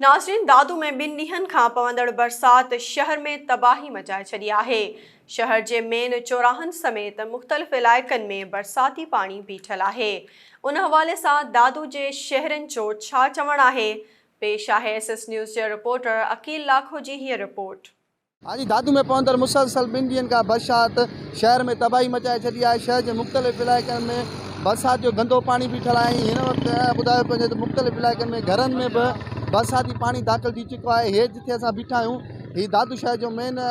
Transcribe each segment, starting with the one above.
ناظرين دادو ۾ ٻن ڏينهن کان پوندڙ برسات شهر ۾ تباهي مچائي ڇڏي آهي، شهر جي مين چوراهن سميت مختلف علائقن ۾ برساتي پاڻي بيٺل آهي، ان حوالي سان دادو جي شهرين جو ڇا چوڻ آهي، پيش آهي ايس ايس نيوز جي رپورٽر عقيل لاکو جي هيء رپورٽ. هاجي دادو ۾ پوندڙ مسلسل ٻن ڏينهن کان برشات شهر ۾ تباهي مچائي ڇڏي آهي، شهر جي مختلف علائقن ۾ برسات جو گندو پاڻي بيٺل آهي ۽ هن وقت ٻڌايو پيو وڃي ته مختلف علائقن ۾ گهرن ۾ به برساتي پاڻي داخل ٿي چڪو آهي، هي جتي اسان بيٺا آهيون هي دادو شهر جو مين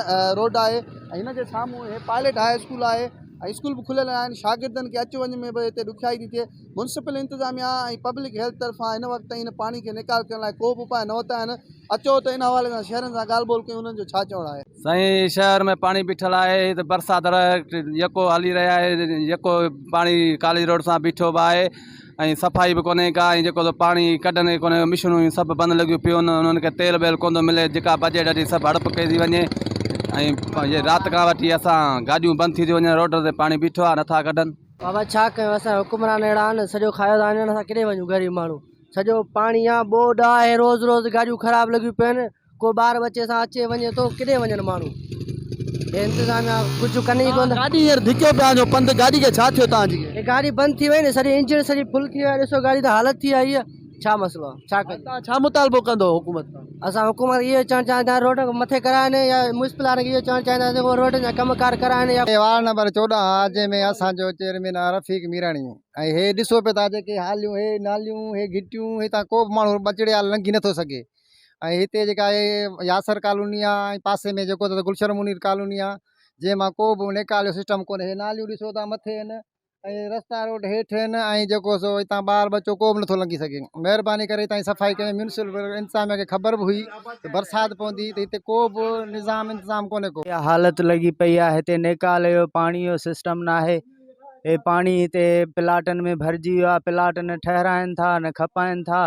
روڊ آهي ۽ هن جي سامهون هي پائليٽ هاء اسڪول آهي ۽ اسڪول به کليل آهن شاگردن کي اچ وڃ ۾ به هتي ڏکيائي ٿي ٿئي. ميونسپل انتظاميا ۽ پبلڪ هيلٿ طرفان هن وقت تائين ان پاڻي کي نيڪال ڪرڻ لاء ڪو به اپاء نه ورتا آهن اچو ته ان حوالي سان شهرين سان ڳالهه ٻولهه ڪيون انهن جو ڇا چوڻ آهي. سائين شهر ۾ پاڻي بيٺل آهي هت برسات ر يڪو هلي رهي آهي يڪو پاڻي ڪاليج روڊ سان بيٺو به آهي ۽ صفائي به ڪونهي ڪا ۽ جيڪو پاڻي ڪڍن ئي ڪونهي مشنون ۽ سڀ بند لڳيون پيون انهن کي تيل بيل ڪون ٿو ملي جيڪا بجيٽ اچي سڀ هڙپ ڪئي ٿي وڃي ۽ رات کان وٺي اسان گاڏيون بند ٿي ٿي وڃن روڊ تي پاڻي بيٺو آهي نٿا ڪڍن بابا ڇا ڪيون اسان حڪمران اهڙا آهن سڄو کايو ٿا وڃن اسان ڪيڏي وڃون غريب ماڻهو سڄو پاڻي آ ٻوڏ آ اهي روز روز گاڏيون خراب لڳيون پيون آهن ڪو ٻار ٻچي سان اچي وڃي ٿو ڪيڏي وڃن ماڻهو هي انتظاميا ڪجهه ڪن ئي ڪونه گاڏي هينئر ڌڪيو پيا وڃو پنڌ گاڏي کي ڇا ٿيو تان جي هي گاڏي بند ٿي وئي نه سڄي انجڻ سڄي ڦل ٿي وئي آ ڏسو گاڏي ته حالت ٿي آ هيء ڇا مسئلو آ ڇا ڪجي. توهان ڇا مطالبو ڪندو حڪومت کان. اسان حڪومت کي اهو چوڻ چاهيون ٿا روڊ مٿي ڪرائن يا ميونسپل وارن کي اهو چوڻ چاهيون ٿا ته هو روڊن جا ڪم ڪار ڪرائن يا. وارڊ نمبر چوڏهن آ جنهن ۾ اسان جو چيئرمين آ رفيق ميراڻي ۽ هي ڏسو پي ٿا جيڪي حاليون هي ناليون هي گهٽيون هتان ڪو به ماڻهو ٻچڙي آ لنگهي نٿو سگهي ۽ هتي جيڪا هي ياسر ڪالوني آ ۽ پاسي ۾ جيڪو ته گلشن منير ڪالوني آ جنهن مان ڪو به نيڪال جو سسٽم ڪونهي هي ناليون ڏسو ٿا مٿي هن ۽ رستا روڊ هيٺ آهن ۽ جيڪو سو هتان ٻار ٻچو ڪو به نٿو لنگهي سگهي مهرباني ڪري هتان جي صفائي ڪري ميونسپل انتظاميا کي خبر به هئي ته برسات پوندي ته هتي ڪو به نظام انتظام ڪونهي ڪو اها حالت لڳي پئي آهي هتي نيڪال جو پاڻي جو سسٽم ناهي هي پاڻي هتي پلاٽن ۾ ڀرجي ويو آهي پلاٽ نه ٺهرائن ٿا نه کپائن ٿا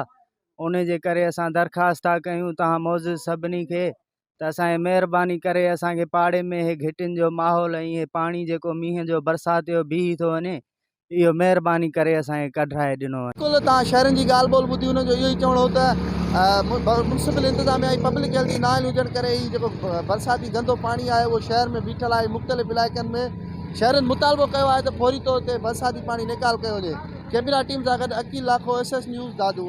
ان جي ڪري اسان درخواست ٿا ڪيون تهان معزز سڀني کي ته اسان کي مهرباني ڪري اسان کي پاڙي ۾ هي گهٽين جو ماحول ۽ هي پاڻي جيڪو مينهن جو برسات جو بيهي ٿو وڃي اهو مهرباني ڪري اسان کي ڪڍرائي ڏنو وڃي. اسڪول تان شهرين جي ڳالهه ٻولهه ٻڌي انهن جو اهو ئي چوڻ هو ته ميونسپل انتظاميا ۽ پبلڪ هيلٿ جي نااهل هجڻ ڪري هي جيڪو برساتي گندو پاڻي آهي اهو شهر ۾ بيٺل آهي مختلف علائقن ۾ شهرين مطالبو ڪيو آهي ته فوري طور تي برساتي پاڻي نيڪال ڪيو وڃي ڪئميرا ٽيم سان گڏ Aqeel Lakho S S news Dadu.